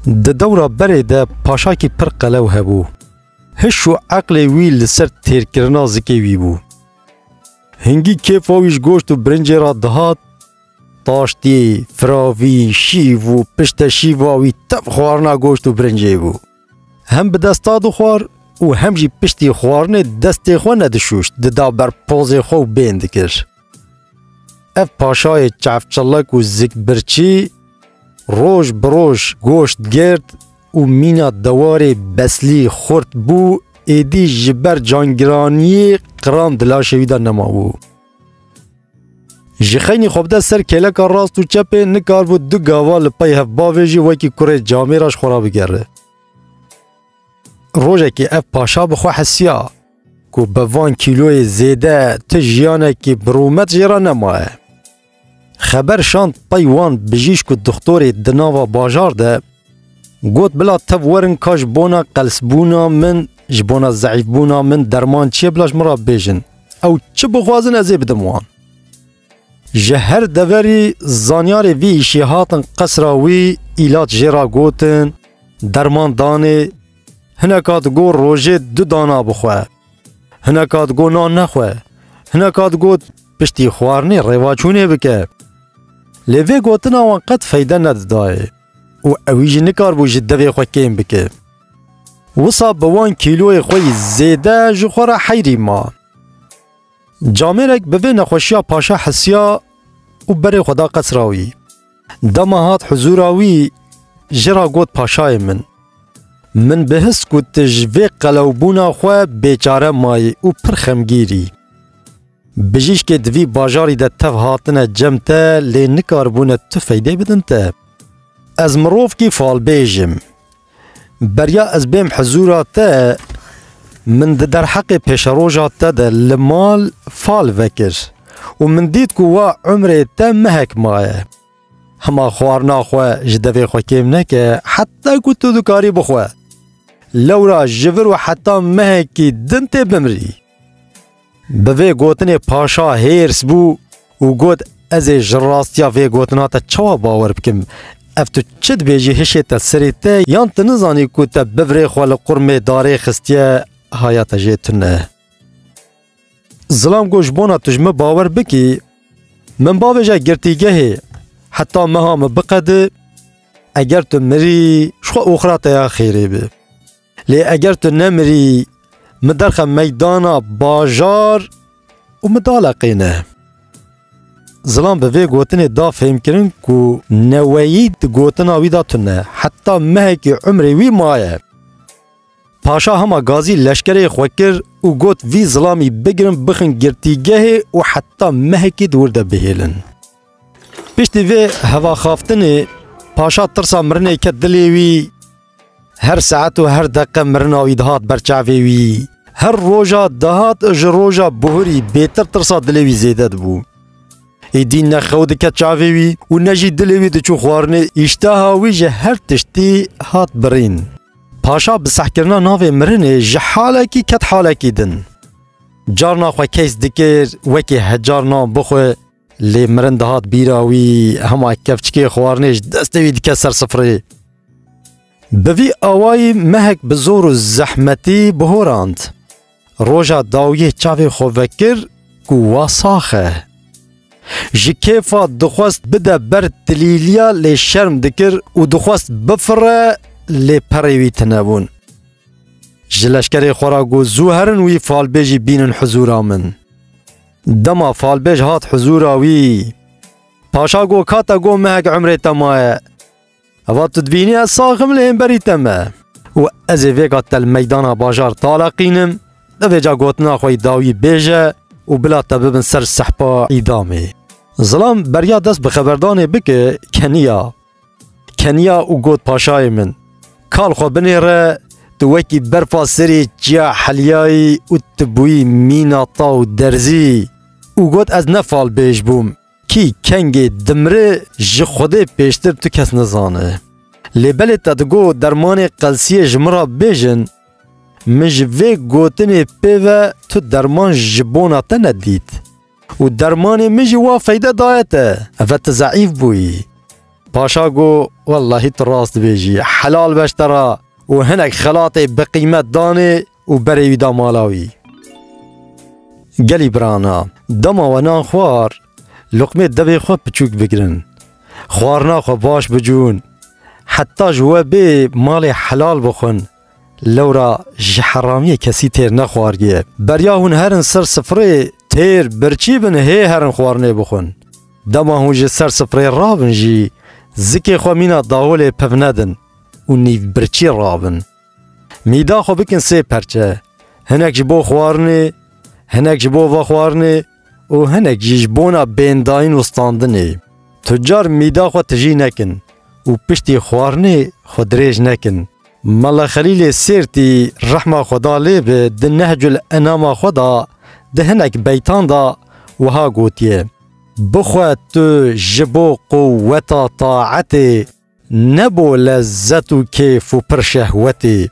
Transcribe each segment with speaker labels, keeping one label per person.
Speaker 1: Di dewra berê de paşakî pir qelew hebû. Hiş û eqlê wî li ser têrkirina zikê wî bû. Hingî kêfa wî ji goşt û birincê re dihat, taştî, firavî, şîv û pişte şîva wî tev xwarina goşt û birincê bû. Hem bi desta dixwar û hem jî piştî xwarinê destê xwe nedişûşt, dida ber pozê xwe û bên dikir. Ev paşayê çefçelek û zikbirçî roj bi roj goşt girt û mîna dewarê beslî xurt bû, êdî ji ber cangiraniyê qiran di laşê wî de nemabû. Ji xeynî xwe bide ser kêleka rast û çepê nikaribû du gava li pey hev bavê jî wekî kurê camêraş xwe rabigere. Rojekê ev paşa bi xwe hesiya. Ku bi van kîloyê zêde ti jiyanekî bi rûmet jê re nemaye. Xeber şand pey wan bijîşk û dixtorê di nava bajar de, got bila tev werin ka ji bona qelsbûna min, ji bona zeîfbûna min derman çi ye bila ji min re bêjin. Ew çi bixwazin ez ê bidim wan. Ji her deverî zanyarê vî îşê hatin qesra wî, îlat jê re gotin, derman danê. Hineka digot rojê du dana bixwe. Hineka digot nan nexwe. Hineka digot piştî xwarinê rêvaçûnê bike. Lê vê gotina wan qet feyde nedidayê û ewî jî nikaribû ji devê xwe kêm bike. Wisa bi wan kîloyê xwe yî zêde ji xwe re heyrî ma. Camêrek bi vê nexweşiya paşa hisiya û berê xwe da qesra wî. Dema hat huzûra wî, ji ra got paşayê min. Min bihist ku tu ji vê qelewbûna xwe bêçare mayî û pir xemgîr î. Bijîşkê di vî bajarî de tev hatine cem te lê nikaribûne tu feydê bidin te. Ez mirovkî falbêj im. Beriya ez bêm hizûra te min di derheqê pêşeroja te de li mal fal vekir û min dît ku wa umrê te mehek maye. Hema xwarina xwe ji devê xwe kêm neke heta ku tu dikarî bixwe. Lewra ji vir û heta mehekî din tê bimrî. Bi vê gotinê paşa hêrs bû û got, Ez ê ji rastiya vê gotina te çawa bawer bikim? Ev tu çi dibêjî hişête serê te yan tu nizanî ku te bivrê xwe li qurmê darê xistiye haya te jê tune? Zilam got, Ji bona tu ji min bawer bikî min bavêje girtîgehê heta meha min biqedi eger tu mirî ji xwe oxira te ya xêrê be. Lê eger tu nemirî, min derxe meydana bajar û min daleqîne. Zilam bi vê gotinê da fêmkirin ku neweyî di gotina wî da tune, heta mehekî umrê wî maye. Paşa hema gazî leşkerê xwe kir û got vî zilamî bigirin bixin girtîgehê û heta mehekî di wir de bihêlin. Piştî vê hevaxaftinê paşa tirsa mirinê ket dilê wî. Her saet û her deqe mirina wî dihat ber çavê wî. Her roja dihat ji roja buhurî bêtir tirsa dilê wî zêde dibû. Êdî ne xew dike çavê wî û ne jî dilê wî diçû xwarinê îşteha wî ji her tiştî hat birîn. Paşa bi sehkirina navê mirinê ji halekî ket halekî din. Carna xwe keys dikir wekî hecar nan bixwe Lê mirin dihat bîra wî hema kevçikê xwarinê ji destê wî dike ser sifrê. Bi vî awayî mehek bi zor û zehmetî bihorand. Roja dawiyê çavê xwe vekir ku wa sax e. Ji kêfa dixwest bide ber tilîliya lê şerm dikir û dixwest bifire lê perê wî tune bûn. Ji leşkerê xwe re got zû herin wî falbêjî bînin hizûra min. Dema falbêj hat huzûra wî. Paşa got ka te got mehek emrê te maye. Eva tu dibînî ez saxim li hêmberî te me. Û ez ê vêga te li meydana bajar taleqînim, divêca gotina xwe yî dawî bêje û bila te bibin ser sehpa îdamê. Zilam beriya dest bi xeberdanê bike keniya. Keniya û got paşayê min, kal xwe binêre, tu wekî berfa serê çiya Helyayî û tu bûyî mîna taw derzî. Û got ez ne falbêj bûm. Kî kengê dimri ji Xwedê pêştir tu kes nizane. Lê belê te digo dermanê qelsiyê ji min re bêjin. Min ji vê gotinê pê ve tu derman ji bona te nedît. Û dermanê min jî wa feyde daye te. Eve tu zeîf bûyî. Paşa got, Wellahî tu rast dibêjî. Helal beş te re. Û hinek xelatê biqîmet danê û berê wî da mala wî. Gelî birana, dema we nan xwar, luqmê devê xwe piçûk bigirin. Xwarina xwe baş bicûn. Heta ji we bê malê helal bixwin, Lewra ji heramiyê kesî têr nexwariye. Beriya hûn herin ser sifrê têr birçî bin hê herin xwarinê bixwin. Dema hûn ji ser sifrê rabin jî zikê xwe mîna dawolê piv nedin û nîv birçî rabin. Mîda xwe bikin sê perçe, hinek ji bo xwarinê, hinek ji bo vexwarinê, û hinek jî ji bona bêndayîn û standinê tucar mîda xwe tijî nekin û piştî xwarinê xwe dirêj nekin. Mala Xelîlê Sêrtî rehma Xweda lê be di Nehcul Enama xwe de di hinek beytan de wiha gotiye, Bixwe tu ji bo quweta taetê, Ne bo lezzet û kêf û pir şehwetê.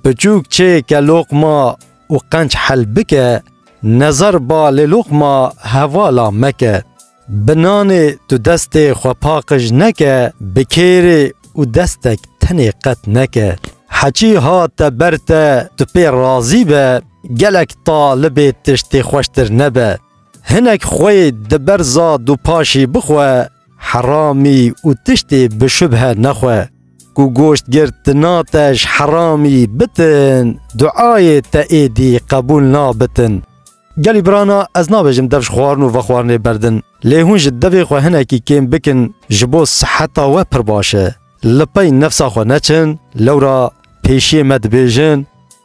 Speaker 1: Piçûk çêke loqma û qenç hel bike, nezar ba lê loqma hevala meke. Bi nanê tu destê xwe paqij neke, bi kêrê û destek tenê qet neke. Heçî hate ber te tu pê razî be, gelek talibê tiştê xweştir nebe. Hinek xweyê di berza dûpaşî bixwe. Heramî û tiştê bi şubhe nexwe. Ku goşt girt di na te ji heramî bitin, duayê te êdî qebûl nabitin. Gelî birana ez nabêjim dev ji xwarin û vexwarinê berdin. Lê hûn ji devê xwe hinekî kêm bikin ji bo siheta we pir baş e. Li pey nefsa xwe neçin, lewra pêşiyê me dibêjin,